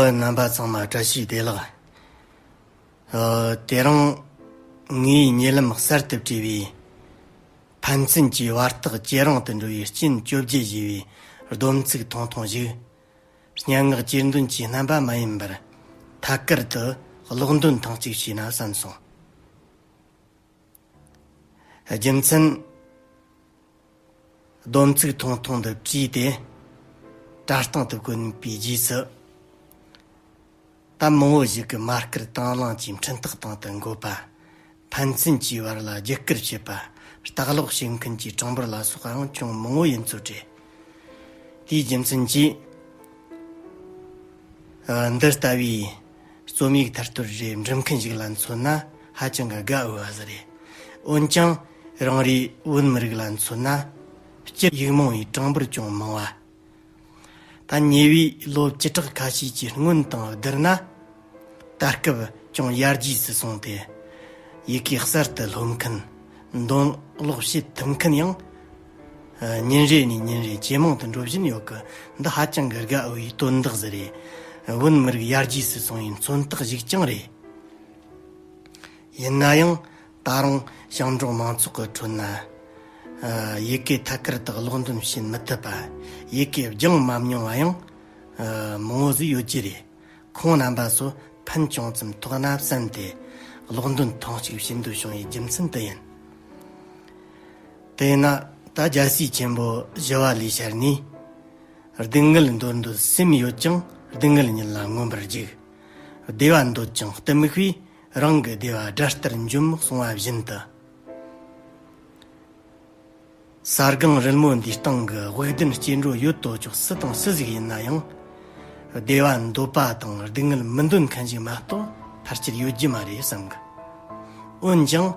རྣམ་པ་ཚང་མ་བཀྲ་ཤིས་བདེ་ལགས། དེ་རིང་ངའི་ཉེ་ལམ་གསར་དུ་བྲིས་པའི་ཕན་ཚུན་གྱི་བར་ཐག་ཇེ་རིང་དུ་འགྲོ་བའི་རྐྱེན་བཅོ་བརྒྱད་ཞེས་པའི་སྡོམ་ཚིག་ཐུང་ཐུང་ཞིག་སྙན་ངག་གཅེས་འདོན་གྱི་རྣམ་པ་མ་ཡིན་པར་ཐད་ཀར་དུ་ཀློག་འདོན་ཐེངས་གཅིག་བྱས་ན་བསམ་སོང། རྒྱུ་མཚན། སྡོམ་ཚིག་ཐུང་ཐུང་འདི་བྲིས་ཏེ་དྲ་སྟེང་དུ་བཀོད་པའི་རྗེས་སུ། ད་མང་བོ་ཞིག་གིས་མ་སྐུལ་དང་བླངས་ཀྱིས་འཕྲིན་བཏགས་སྟེང་དུ་འགོད་པ། ཕན་ཚུན་གྱི་བར་ལ་བརྒྱུད་སྐུལ་བྱེད་པ། ལྟ་ཀློག་བྱེད་མཁན་གྱི་གྲངས་འབོར་ལ་སོགས་ཅུང་མང་བོ་ཡིན་ཚུལ་བྲིས། དེའི་རྒྱུ་མཚན་གྱིས། འདི་ལྟ་བུའི་རྩོམ་ཡིག་ཐར་ཐོར་རེ་འབྲི་མཁན་ཞིག་ལ་མཚོན་ན་ཧ་ཅང་གི་དགའ་འོས་བ་ཞིག་རེད། འོན་ཀྱང་རང་རེའི་བོད་མི་རིགས་ལ་མཚོན་ན། སྐྱིད་ཡིག་མང་བའི་གྲངས་འབོར་ཅུང་མང་བ། ད་ཉེ་བའི་ལོ་བཅུ་ཕྲག་ཁ་ཤས་ཀྱི་སྔོན་དང་བསྡུར་ན་ད་སྐབས་ཅུང་ཡར་རྒྱས་སུ་སོང་སྟེ་ཡི་གེ་གསར་དུ་སློབ་མཁན་འདོན་ཀློག་བྱེད་ཐུབ་མཁན་ཡང་ཉིན་རེ་ནས་ཉིན་རེ་ཇེ་མང་དུ་འགྲོ་བཞིན་ཡོད་གི་འདི་ཧ་ཅང་གི་དགའ་འོས་དོན་དག་ཟིག་རེད། བོད་མི་རིགས་ཡར་རྒྱས་སུ་སོང་བའི་མཚོན་རྟགས་ཞིག་ཀྱང་རེད། ཡིན་ན་ཡང་ད་རུང་ཞིང་འབྲོག་མང་ཚོགས་ཀྱི་ཁྲོད་ན། ཡི་གེ་ཐད་ཀར་དག་ཀློག་འདོན་བྱེད་མི་ཐུབ་པ། ཡི་གེ་རྒྱང་མ་མྱོང་བ་ཡང་མང་བོ་ཟིག་ཡོད་ཀྱི་རེད། ཁོང་རྣམ་པ་ཚོ་ཕན་ཅུང་ཙམ་ཐོགས་ན་བསམ་སྟེ་ཀློག་འདོན་ཐེངས་གཅིག་བྱེད་འདོད་བྱུང་བའི་རྒྱུ་མཚན་དེ་ཡིན། དེས་ན་ད་རྒྱལ་སྲིད་ཆེན་པོ་བཞི་བ་ལས་ཤར་ནས། སྡུག་བསྔལ་འདོད་འདོད་སེམས་ཡོད་ཀྱང་སྡུག་བསྔལ་ཉིད་ལ་མངོན་པར་རྒྱུག། བདེ་བ་འདོད་ཀྱང་གཏི་མུག་པས། རང་གི་བདེ་བ་སྒྲ་ལྟར་འཇོམས་མི་གསུང་བ་བཞིན་དུ། ས་སྒང་རིལ་མོ་འདིའི་སྟེང་གི་དབུགས་ལྡན་སྐྱེ་འགྲོ་ཡོད་དོ་ཅོག་སུ་དང་སུ་ཞིག་ཡིན་ན་ཡང། བདེ་བ་འདོད་པ་དང་སྡུག་བསྔལ་མི་འདོད་མཁན་ཞིག་མ་གཏོགས་ཕར་ཆེར་ཡོད་རྒྱུ་མ་རེད་བསམ་གི། འོན་ཀྱང།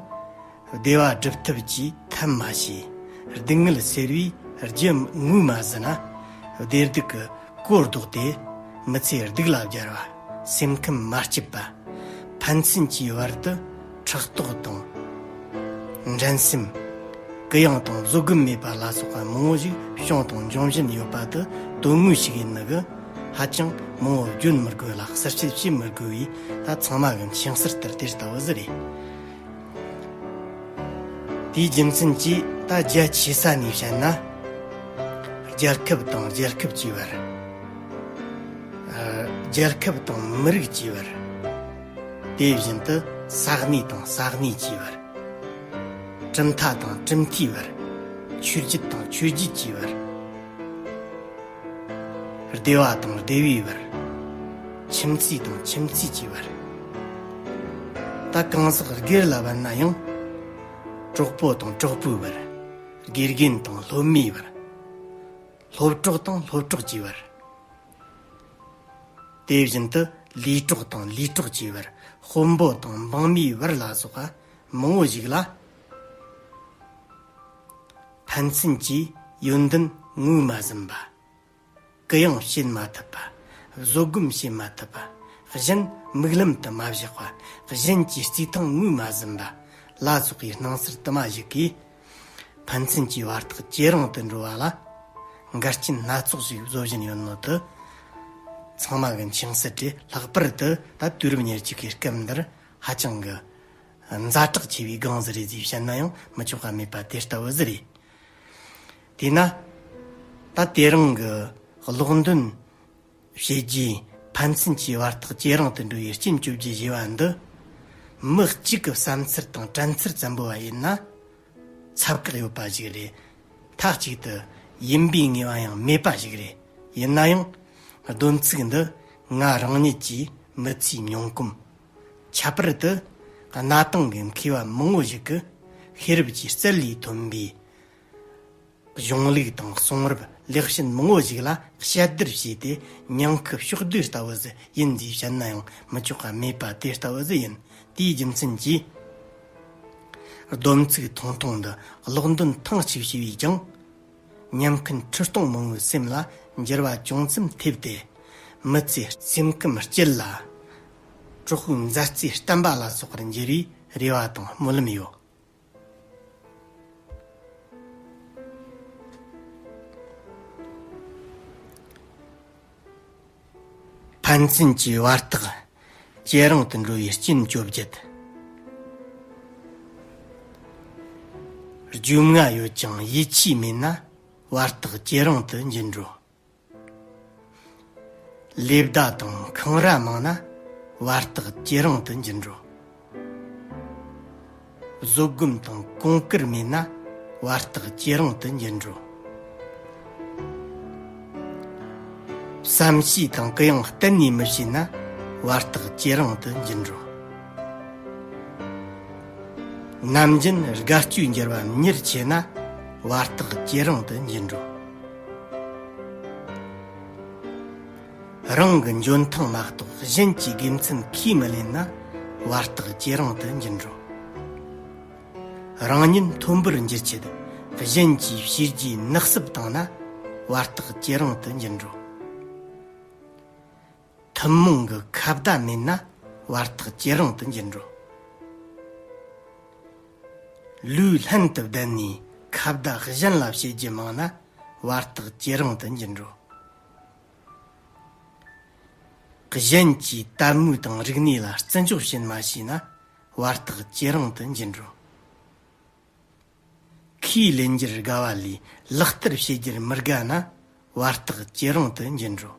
བདེ་བ་སྒྲུབ་ཐབས་ཀྱིས་ཐབས་མ་བྱས། སྡུག་བསྔལ་སེལ་བའི་རྒྱུ་དངོས་མ་ཟིན་ན། བདེ་སྡུག་གི་གོ་བཟློག་དེ་མི་ཚེ་སྡུག་ལ་སྦྱར་བ། སེམས་ཁམས་མ་སྐྱིད་པ། ཕན་ཚུན་གྱི་བར་དུ་ཕྲག་དོག་དང། འགྲན་སེམས། གུ་ཡངས་དང་བཟོད་སྒོམ་མེད་པ་ལ་སོགས་པ་མང་བོ་ཞིག་བྱུང་དང་འབྱུང་བཞིན་ཡོད་པ་འདི་དོན་དངོས་ཤིག་ཡིན་ནི་གི། ཧ་ཅང་མང་བོ་བརྗོད་མི་དགོས་ལ་གསལ་བཤད་བྱེད་མི་དགོས་པས་ད་ཚང་མ་གི་མཆན་གསར་ལྟར་དེ་ལྟ་བུ་ཟི་རེད། དེའི་རྒྱུ་མཚན་གྱིས་ད་རྒྱ་ཆེ་ས་ནས་བཤད་ན། རྒྱལ་ཁབ་དང་རྒྱལ་ཁབ་ཀྱི་བར། རྒྱལ་ཁབ་དང་མི་རིགས་ཀྱི་བར། དེ་བཞིན་དུ་ས་གནས་དང་ས་གནས་ཀྱི་བར། གྲུབ་མཐའ་དང་གྲུབ་མཐའི་བར། ཆོས་བརྒྱུད་དང་ཆོས་བརྒྱུད་ཀྱི་བར། སྡེ་བ་དང་སྡེ་བའི་བར། ཁྱིམ་མཚེས་དང་ཁྱིམ་མཚེས་ཀྱི་བར། ད་གང་ཟག་སྒེར་ལ་བར་ན་ཡང། གྲོགས་པོ་དང་གྲོགས་པོའི་བར། དགེ་རྒན་དང་སློབ་མའི་བར། སློབ་གྲོགས་དང་སློབ་གྲོགས་ཀྱི་བར། དེ་བཞིན་དུ་ལས་གྲོགས་དང་ལས་གྲོགས་ཀྱི་བར། དཔོན་པོ་དང་འབངས་མིའི་བར་ལ་སོགས་པ་མང་བོ་ཞིག་ལ། ཕན་ཚུན་གྱི་ཡོན་ཏན་ངོས་མ་ཟིན་པ། གུ་ཡངས་བྱེད་མ་ཐུབ་པ། བཟོད་སྒོམ་བྱེད་མ་ཐུབ་པ། གཞན་དམིགས་ལམ་དུ་མ་བཞག་པ། གཞན་གྱི་རྩིས་ཐང་ངོས་མ་ཟིན་པ། བླ་སྲོག་གི་སྣང་སར་དུ་མ་གཞིག་གིས། ཕན་ཚུན་གྱི་བར་ཐག་ཇེ་རིང་དུ་འགྲོ་བ་ལ། འགལ་རྐྱེན་སྣ་ཚོགས་ཤིག་བཟོ་བཞིན་ཡོད་མོད་དུ། ཚང་མ་གི་འཆིང་སྲིད་དེ་ལྷག་པར་དུ་ད་དུས་རབས་ཉེར་གཅིག་གི་སྐབས་འདིར་ཧ་ཅང་གི། ཛ་དྲག་ཆེ་བའི་སྒང་ཟི་རེད་ཟེར་བཤད་ན་ཡང་མི་ཆོག་ག་མེད་པ་དེ་ལྟ་བུ་ཟི་རེད། དེས་ན། ད་དེ་རིང་གི་ཀློག་འདོན་བྱེད་རྒྱུའི་ཕན་ཚུན་གྱི་བར་ཐག་ཇེ་རིང་དུ་འགྲོ་བའི་སྐྱིན་བཅོ་བརྒྱད་བཞི་བ་འདི། མི་གཅིག་གི་བསམ་ཚུལ་དང་དྲན་ཚུལ་ཙམ་པོ་བ་ཡིན་ན། ཚབ་བཀག་ཡོད་པ་ཞིག་རེད། མཐའ་གཅིག་ཏུ་ཡིན་པའི་ངེས་པ་ཡང་མེད་པ་ཞིག་རེད། ཡིན་ན་ཡང། བསྡོམས་ཚིག་འདི་ང་རང་ཉིད་ཀྱིས་མི་ཚེའི་མྱོང་གོམས། ཁྱད་པར་དུ་གནའ་དེང་གི་མཁས་པ་མང་བོ་ཞིག་གིས་ཤེས་རབ་ཀྱི་རྩལ་ལས་ཐོན་པའི་གཞུང་ལུགས་དང་གསུང་རབ་ལེགས་ཤོས་མང་བོ་ཞིག་ལ་དཔྱད་བསྡུར་བྱས་ཏེ་སྙིང་ཁུ་ཕྱོགས་བསྡུས་ལྟ་བུ་ཟིག་ཡིན་ཞེས་བཤད་ན་ཡང་མི་ཆོག་ག་མེད་པ་དེ་ལྟ་བུ་ཟིག་ཡིན། དེའི་རྒྱུ་མཚན་གྱིས། སྡོམ་ཚིག་ཐུང་ཐུང་འདི་ཀློག་འདོན་ཐེངས་གཅིག་བྱས་པས་ཀྱང། ཉམས་མཁན་ཁྲི་སྟོང་མང་བོའི་སེམས་ལ་འགྱུར་བ་ཅུང་ཙམ་ཐེབས་ཏེ། མི་ཚེ་སེམས་ཁམས་སྐྱིད་ལ། གྲོགས་པོའི་མཛའ་བརྩེ་བརྟན་པ་ལ་སོགས་པར་འགྱུར་བའི་རེ་བ་དང་སྨོན་ལམ་ཡོད། ཕན་ཚུན་གྱི་བར་ཐག་ཇེ་རིང་དུ་འགྲོ་བའི་རྐྱེན་བཅོ་བརྒྱད། རྒྱུས་མངའ་ཡོད་ཀྱང་ཡིད་ཆེས་མེད་ན་བར་ཐག་ཇེ་རིང་དུ་འགྱུར་འགྲོ། ལས་བདག་དང་འཁང་ར་མང་ན་བར་ཐག་ཇེ་རིང་དུ་འགྱུར་འགྲོ། བཟོད་སྒོམ་དང་གོང་བཀུར་མེད་ན་བར་རྟགས་ཇེ་རིང་དུ་འགྱུར་འགྲོ། བསམ་ཤེས་དང་གུ་ཡངས་གཏན་ནས་མི་བྱེད་ན་བར་རྟགས་ཇེ་རིང་དུ་འགྱུར་འགྲོ། ནམ་རྒྱུན་དགའ་སྐྱོའི་འགྱུར་བ་མྱུར་ཆེ་ན་བར་རྟགས་ཇེ་རིང་དུ་འགྱུར་འགྲོ། རང་གི་འཇོན་ཐང་མ་གཏོགས་གཞན་གྱི་དགེ་མཚན་ཁས་མི་ལེན་ན་བར་རྟགས་ཇེ་རིང་དུ་འགྱུར་འགྲོ། རང་ཉིད་མཐོན་པོར་འགྱུར་ཆེད་གཞན་གྱི་བྱས་རྗེས་ནག་བསུབ་བཏང་ན་བར་རྟགས་ཇེ་རིང་དུ་འགྱུར་འགྲོ། ཐུན་མོང་གི་ཁ་བརྡ་མེད་ན་བར་རྟགས་ཇེ་རིང་དུ་འགྱུར་འགྲོ། ལུས་ལྷན་དུ་བསྡད་ནས་ཁ་བརྡ་གཞན་ལ་བྱེད་རྒྱུ་མང་ན་བར་རྟགས་ཇེ་རིང་དུ་འགྱུར་འགྲོ། གཞན་གྱིས་དད་མོས་དང་རིག་གནས་ལ་བརྩི་འཇོག་བྱེད་མ་བྱས་ན་བར་ཐག་ཇེ་རིང་དུ་འགྱིང་འགྲོ། ཁོས་ལས་འགྱུར་དགའ་བ་ལས་ལག་བསྟར་བྱེད་རྒྱུར་མི་དགའ་ན་བར་ཐག་ཇེ་རིང་དུ་འགྱིང་འགྲོ།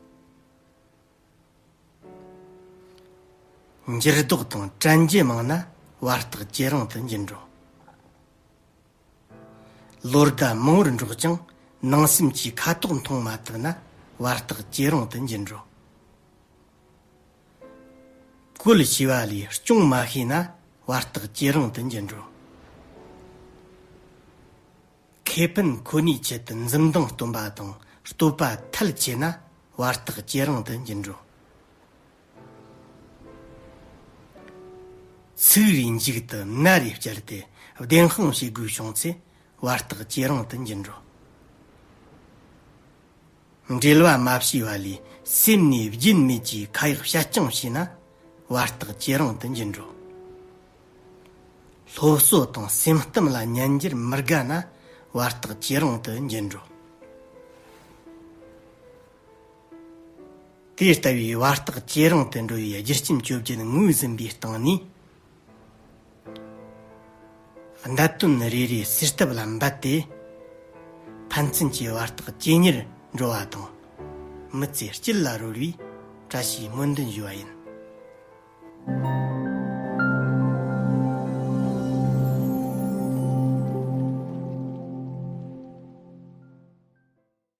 འགྱུར་ལྡོག་དང་བྲན་གྱི་མང་ན་བར་ཐག་ཇེ་རིང་དུ་འགྱིང་འགྲོ། ལོ་ཟླ་མང་བོར་འགྲོགས་ཀྱང་ནང་སེམས་ཀྱི་ཁ་དོག་མཐོང་མ་ཐུབ་ན་བར་རྟགས་སྐྱེ་རུང་དུ་འགྱུར་འགྲོ། བཀོལ་ཞེས་པ་ལས་སྐྱོང་མ་ཤེས་ན་བར་རྟགས་སྐྱེ་རུང་དུ་འགྱུར་འགྲོ། ཁེ་ཕན་ཁོ་ནའི་ཆེད་དུ་འཛུམ་མདངས་སྟོན་པ་དང་བསྟོད་པ་ཐལ་བྱེད་ན་བར་རྟགས་སྐྱེ་རུང་དུ་འགྱུར་འགྲོ། ཚིག་རིས་མཇུག་ཏུ་ན་རེ་བསྐྱལ་ཏེ་བདེན་དཔང་བྱེད་དགོས་བྱུང་ཚེ་བར་རྟགས་ཇེ་རིང་དུ་འགྱུར་འགྲོ། འགྲེལ་བ་མ་ཕྱེ་བ་ལས་སེམས་ནི་བརྒྱུད་མེད་ཀྱི་ཁ་ཡག་བཤད་རྐྱང་བྱས་ན་བར་རྟགས་ཇེ་རིང་དུ་འགྱུར་འགྲོ། སློབ་གསོ་དང་སེམས་གཏམ་ལ་ཉན་རྒྱུར་མི་དགའ་ན་བར་རྟགས་ཇེ་རིང་དུ་འགྱུར་འགྲོ། དེ་ལྟ་བུའི་བར་རྟགས་བཅས་རང་དུ་འགྲོ་བའི་རྒྱུ་རྐྱེན་བཅོ་བརྒྱད་ངོས་ཟིན་པའི་སྟེང་ནས། བརྡ་དོན་རེ་རེ་སུས་བཏབ་ལ་འབད་དེ། ཕན་ཚུན་གྱི་བར་རྟགས་བཅས་ཉེར་འགྲོ་བ་དང། མི་ཚེ་དཀྱིལ་ལ་རོལ་བའི་བཀྲ་ཤིས་སྨོན་འདུན་ཞུ་བ་ཡིན།